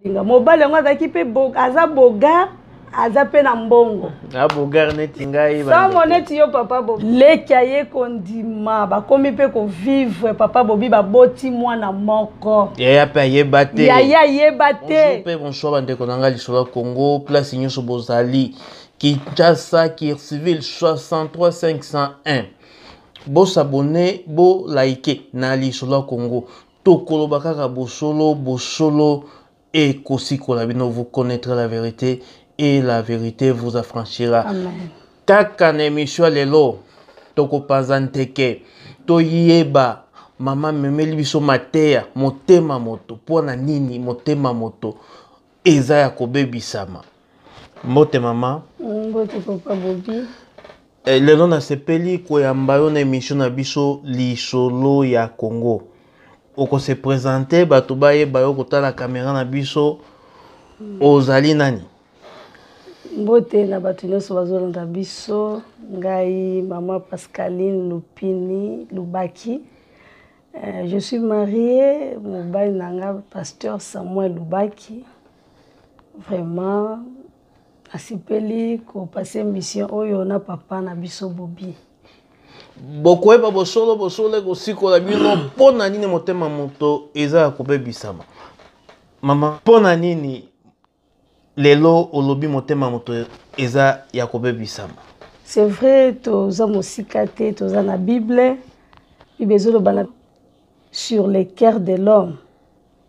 linga mobali yango azalaki mpe aza bogar aza mpe na mbongo ah, bogar neti ngai somo neti yo papa bobi leki aye kondima bakomi mpe kovivre papa bobi baboti mwana moko yaya mpe ayeba te yaya ayeba te mpe bonsoir bandeko na ngai lisolo ya congo place nyonso bozali kinshasa kirciville 63501 bosabone bolike na lisolo ya congo tokoloba kaka bosolo bosolo ekosikola bino vous connaîtrez la vérité et la vérité vous affranchira Amen. kaka na emission lelo tokopanza nteke toyeba mama memeli biso mateya motema moto mpo na nini motema moto eza ya kobebisama mbote mama mbote papa bobi Eh, lelo nasepeli koyamba yo na emission na biso lisolo ya Congo. Oko se presenter bato bayeba yo kotala kamera na biso ozali nani? Mbote na bato nyonso bazolanda biso, ngai mama Pascaline Lupini Lubaki. Eh, je suis mariée, mobali na nga pasteur Samuel Lubaki. Vraiment Asepeli ko passer mission oyo na papa na biso Bobi. bokoyeba bosolo bosolo ekosikola bino mpo na nini motema moto eza ya kobebisama mama mpo na nini lelo olobi motema moto eza ya kobebisama c'est vrai toza mosika te toza na bible bible ezoloba na sur le cœur de l'homme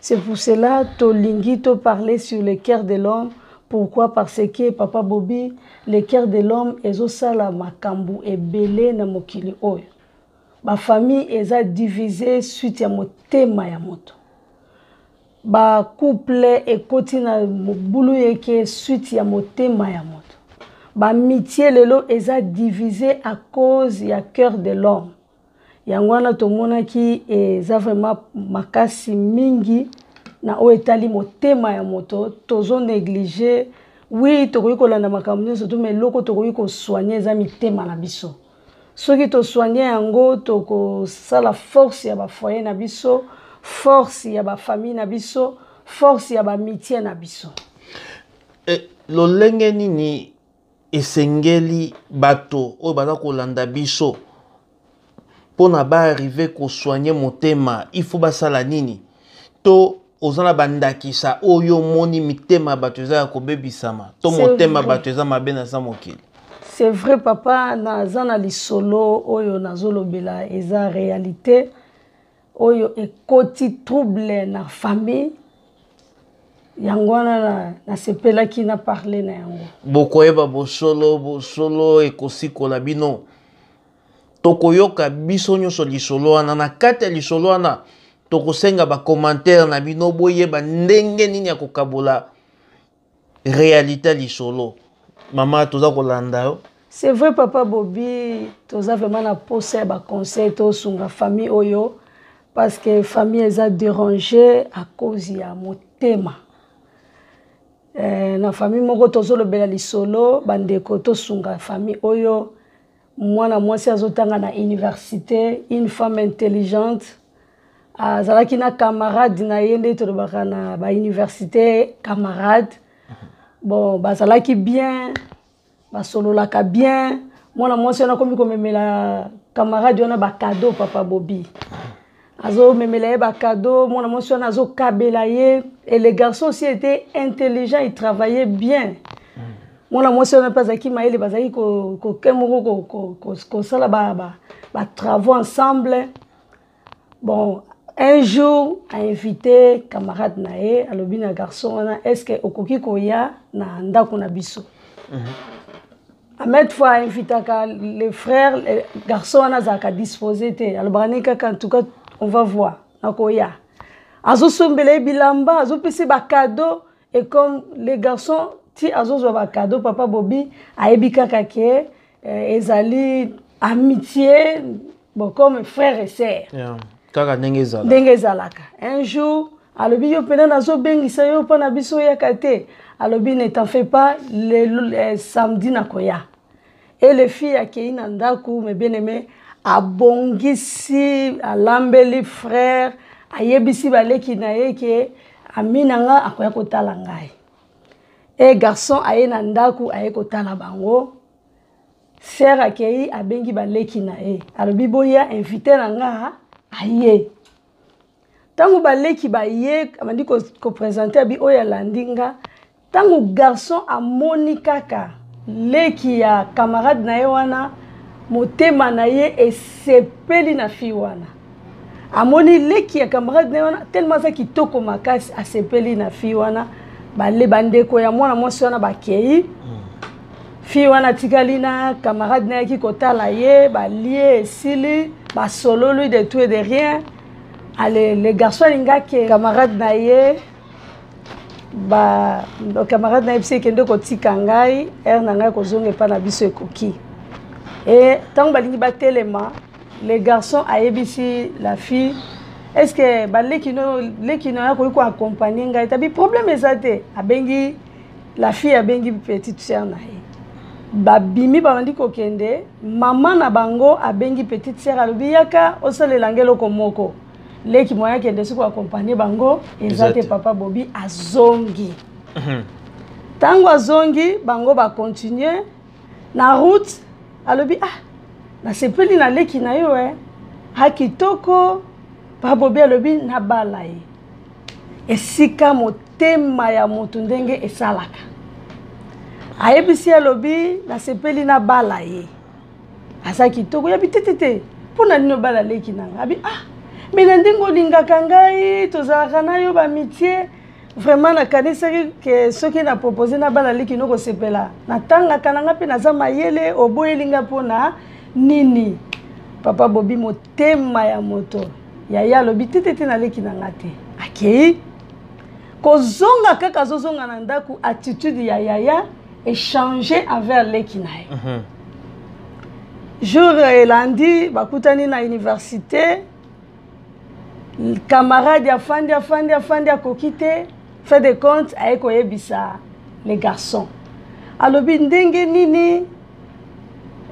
C'est pour cela tolingi to parler sur le cœur de l'homme pourquoi parce que papa Bobby le cœur de l'homme ezosala makambo ebele na mokili oyo bafamille eza divise suite ya motema ya moto bacouple ekoti na mobulu yeke suite ya motema ya moto bamitie lelo eza divise à cause ya cœur de l'homme yango wana tomonaki eza vraiment makasi mingi na oyo etali motema ya moto tozo neglige wi tokoki kolanda makambo nyonso to ma eloko tokoki kosoigne eza mitema na biso soki tosoigne yango tokosala force ya bafoye na biso force ya bafamille na biso force ya bamitie na biso e, lolenge nini esengeli bato oyo baza kolanda biso mpo na baarrive kosoigne motema il faut basala nini to oza na bandakisa oyo omoni mitema ya bato eza ya kobebisama to motema ya bato eza mabe naza mokili c'est vrai papa naza na lisolo oyo nazolobela eza réalité oyo ekoti trouble na famille yango wana nasepelaki na parle na yango bokoyeba bosolo bosolo ekosikola bino tokoyoka biso nyonso lisolo wana na kati ya lisolo wana tokosenga bakomantere na bino boyeba ndenge nini ya kokabola realite lisolo mama toza kolanda yo c'est vrai papa bobi toza vraiment na posa ya baconseil tosunga famille oyo parce que famille eza dérange à cause ya motema eh, na famille moko tozolobela lisolo bandeko tosunga famille oyo mwana mwasi azotanga na université une femme intelligente azalaki na camarade na ye nde tolobaka na bauniversité camarade bon bazalaki bien basololaka bien mwana mwasi wana akomi komemela camarade wana bacado papa bobi azomemela ye bacado mwana mwasi wana azokabela ye et le garçon aussi était intelligent il travaillait bien mm. mwana mwasi wana mpe azalaki mayele bazalaki koke moko kosala batravaux ensemble bon un jour ainvite camarade na ye alobi na garçon wana est ce que okoki koya na ndako na biso mm -hmm. amet fois ainvitaka le frère le garçon wana azalaka dispose te alobaka nini kaka en tout cas on va voir nakoya azosombela ye bilamba azopesa ye bacado et comme le garçon ti azozwa bacado papa bobi ayebi kaka ke eh, ezali amitié bon comme frère et sœur yeah. kaka ndenge ezalaka ndenge ezalaka un jour alobi yo mpena nazobengisa yo mpo na biso oyaka te alobi ne t'en fais pas le, le, eh, samedi nakoya e le fille akei na ndako me bien aimé abongisi alambeli frère ayebisi baleki na ye ke ami na nga akoya kotala ngai e garçon aye na ndako aye kotala bango Sœur akeyi abengi ba leki na ye. Alobi boya invité na nga aye. Tango ba leki ba ye abandi ko, ko présenter abi oyo alandi nga. Tango garçon amoni kaka leki ya camarade na ye wana motema na ye esepeli na fille wana. amoni leki ya camarade na ye wana telema aza kitoko makasi asepeli na fille wana bale bandeko ya mwana mwasi wana bakei hmm. fille wana atikali na camarade na yaki kotala ye balie esili basololi de tout et de rien ale le garçon alingi ake camarade na ye ba camarade na ye bisi ekende kotika ngai heure na ngai kozonga epai na biso ekoki e ntango balingi batelema le garçon ayebisi la fille est ce que baleki no leki no akoki koaccompagne ngai tabi problème eza te abengi la fille abengi petite sœur na ye babimi babandi kokende mama na bango abengi petite sœur alobi yaka osalela ngai eloko moko leki moya akende soki koaccompagne bango eza te papa bobi azongi ntango mhm. azongi bango bacontinue na route alobi ah nasepeli na leki na yo eh. ha kitoko babobi alobi nabala ye esika motema ya moto ndenge esalaka ayebisi ye alobi nasepeli nabala ye aza kitoko yabi te te te mpo na nini obala leki na ngai abi ah me na ndenge olingaka ngai tozalaka na yo bamitie vraiment nakanisaki ke soki na propose na bana liki no kosepela natangaka na nga mpe naza mayele oboyeli nga mpo na nini papa bobi motema ya moto yaya alobi te te te naleki na nga te akei kozonga kaka azozonga na ndako attitude ya yaya echange envers leki na ye mhm. jour elandi bakutani na université camarade afandi afandi afandi akoki te fait de compte aye koyebisa le garçon alobi ndenge nini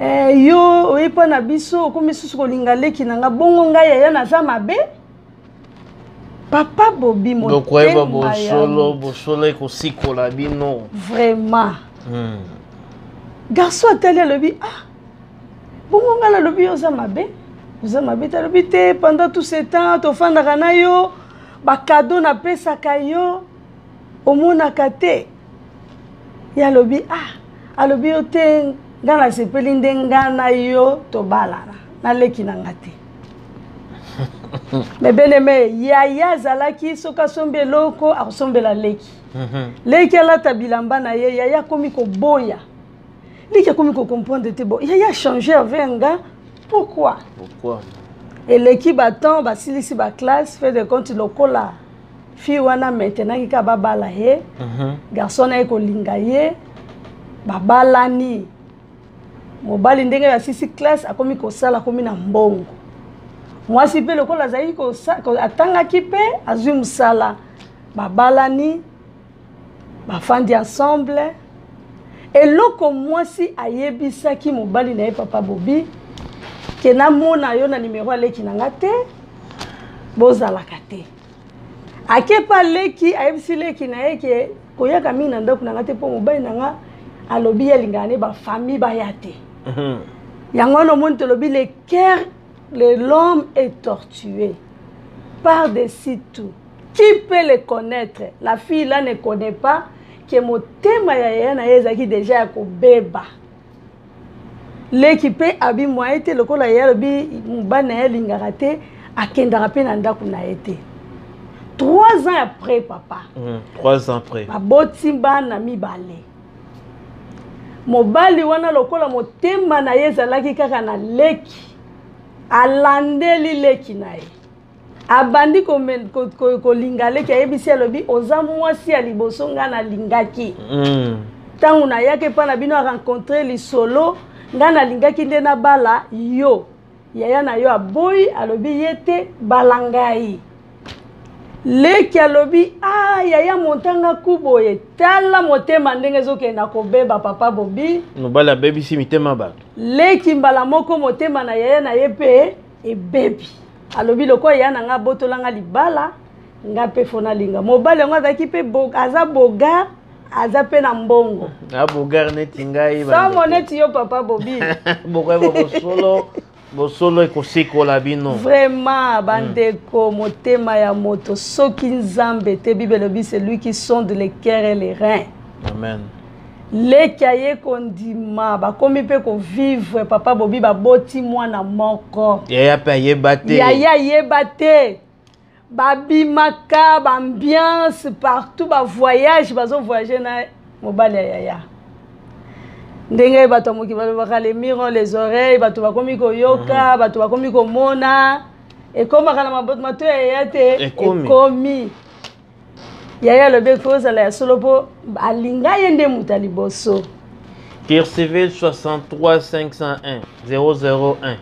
eh, yo oye mpo na biso okomi susu kolinga leki na nga bongo ngai yaya naza mabe papa bobi mokoyeba bosolo bosolo ekosikola bino vraiment hmm. garçon atali alobi ah bongo ngai nalobi yo oza mabe oza mabe te alobi te pendant tout ce temps tofandaka na yo bakado napesaka yo omonaka te ye alobi ah alobi yo te ngai nasepeli nde ngai na yo tobalana naleki na ngai te me beneme yaya azalaki soki asombi eloko akosombela leki mhm. leki alata bilamba na ye yaya akomi koboya ndiki akomi kocomprendre te bo yaya change avec nga pourquoi pourquoi eleki batemp basilisi baclasse fait de compte lokola fille wana maintenant kika babala ye mhm. garçon naye kolinga ye babalani mobali ndenge basisi classe akomi kosala akomi na mbongo mwasi mpe lokola azalaki atangaki mpe azwi mosala babalani bafandi ensemble eloko mwasi ayebisaki mobali na ye papa bobi ke namona yo na nimero ya leki na nga te bozalaka te akepa leki ayebisi leki na ye ke koyaka mingi na ndako na nga te mpo mobali na nga alobi ye alingaka ne bafamille baya te mhm. yango wana omoni tolobi le cœur Le l'homme est tortué par des sites tout. Qui peut le connaître? La fille là ne connaît pas que motema ya yaya na ye ezalaki deja ya kobeba. Leki mpe abi mwaye te lokola yaya alobi mobali na ye alingaka te akendaka mpe na ndako na ye te. Trois ans après papa. Mm, trois ans après. Baboti bana mibale. mobali wana lokola motema na ye ezalaki kaka na leki alandeli leki na ye abandi kolinga ko, ko, ko leki ayebisi alobi oza mwasi ya liboso ngai nalingaki mm. ntango mm. nayaki epai na bino arencontre lisolo ngai nalingaki nde nabala yo yaya na yo aboyi alobi ye te bala ngai leki alobi ah yaya montanga ku boye tala motema ndenge ezokenda kobeba papa bobi mobali abebisi mitema bato leki mbala moko motema na yaya na ye mpe ebebi alobi lokola yaya na ngai abotola ngai libala ngai mpe fo nalinga mobali yango azalaki mpe aza bogar aza mpe na mbongo abogare ah, neti ngai somo neti yo papa bobi bokoyeba bosolo bosolo ekosikola bino vraiment hmm. bandeko mm. motema ya moto soki nzambe te bible elobi celui qui sonde le cœur et les reins amen leki aye kondima bakomi mpe kovivre papa bobi baboti mwana moko yaya mpe ayeba te yaya ayeba te babimaka baambiance partout bavoyage bazovoyage na mobali ya yaya ndenge bato ya moki balobaka le miron les oreilles bato bakomi koyoka mhm. bato bakomi komona ekomaka na mato ya yaya te ekomi yaya alobi ekoki kozala ya solo mpo alinga ye nde moto ya liboso kircivil 63501 001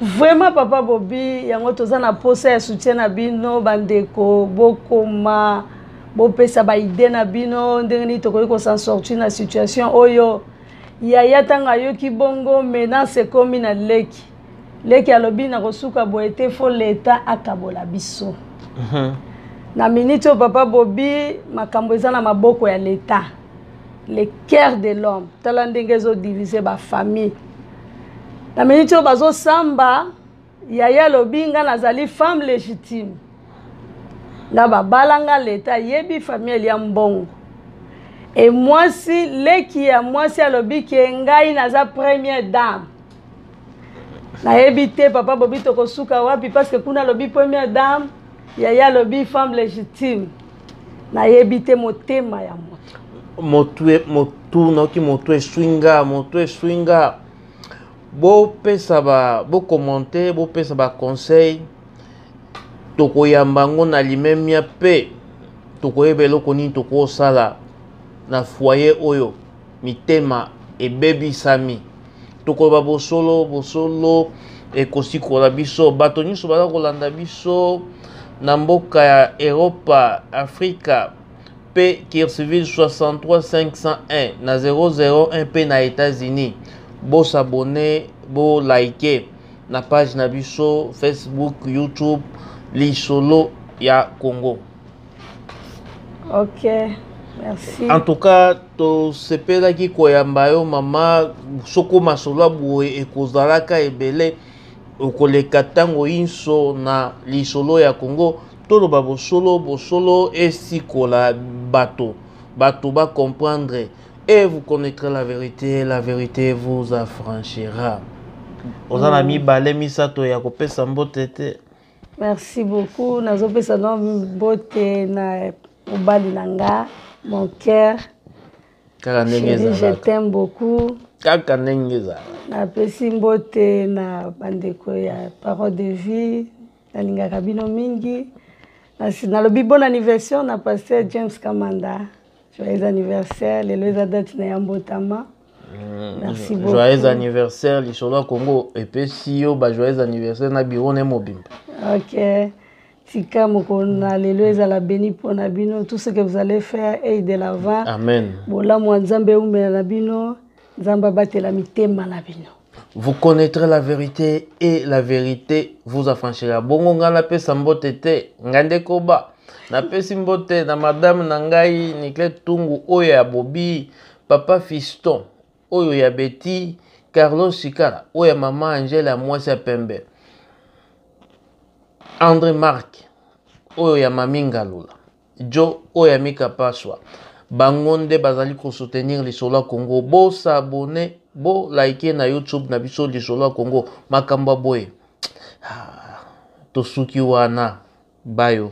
vraiment papa bobi yango toza na mposa ya soutien na bino bandeko bokoma bopesa baide na bino ndenge nini tokoki kosansorti na situation oyo yaya ntango ayoki bongo menace ekomi na leki leki alobi na kosuka boye te fo leta akabola biso mhm. na miniti oyo papa bobi makambo eza na maboko ya leta le cœur de l'homme tala ndenge ezodivise bafamille na miniti oyo bazosamba yaya alobi ngai nazali femme légitime nga babala nga leta ayebi famille ya mbongo e mwasi leki ya mwasi alobi ke ngai naza première dame nayebi te papa bobi tokosuka wapi parce que kuna alobi première dame yaya alobi femme légitime nayebi te motema ya moto motu nayoki moto eswi nga moto eswi nga bopesa ba bokommente bopesa baconseil tokoyamba yango na limemia mpe tokoyeba eloko nini tokosala na foyer oyo mitema ebebisami tokoloba bosolo bosolo ekosikola biso bato nyonso baza kolanda biso na mboka ya eropa afrika mpe kirsiville 63501 na 001 mpe na états-unis bosabone bolike na page na biso facebook youtube lisolo ya congo ok merci en tout cas tosepelaki koyamba yo mama soko masolo ya boye ekozalaka ebele okoleka ntango inso na lisolo ya congo toloba bosolo bosolo esikola bato bato bacomprendre et vous connaîtrez la vérité la vérité vous affranchira oza na mm. mibale misato ya kopesa mbote te merci beaucoup nazopesa na mbote na mobali na nga mon cœur kaka ndenge ezalaka je t'aime beaucoup kaka ndenge ezala napesi mbote na bandeko ya parole de vie nalingaka bino mingi nalobi bon anniversaire na pasteur james kamanda joyeux anniversaire lelo eza date na ya mbotama Mm. Merci beaucoup. Joyeux anniversaire lisolo ya Congo epesi yo ba joyeux anniversaire na bureau ne mobimba. OK. Tika mokolo na lelo ezala beni mpo na bino tout ce que vous allez faire et de l'avant. Amen. Bolamu ya Nzambe eumela na bino. Nzambe abatela mitema na bino. Vous connaîtrez la vérité et la vérité vous affranchira. Bongo nga napesa mbote te, nga nde koba. Napesi mbote na madame na ngai Nicole Tungu oyo ya Bobi, papa Fiston oyo ya Betty, Carlos Sikala oyo ya mama Angela ya mwasi ya pembe. Andre Marc oyo ya Mami Ngalula. Djo oyo ami kapaswa bango nde bazali ko soutenir lisolo ya Congo bo s'abonner bo like na YouTube na biso lisolo ya Congo makambo boye ah, tosuki wana bayo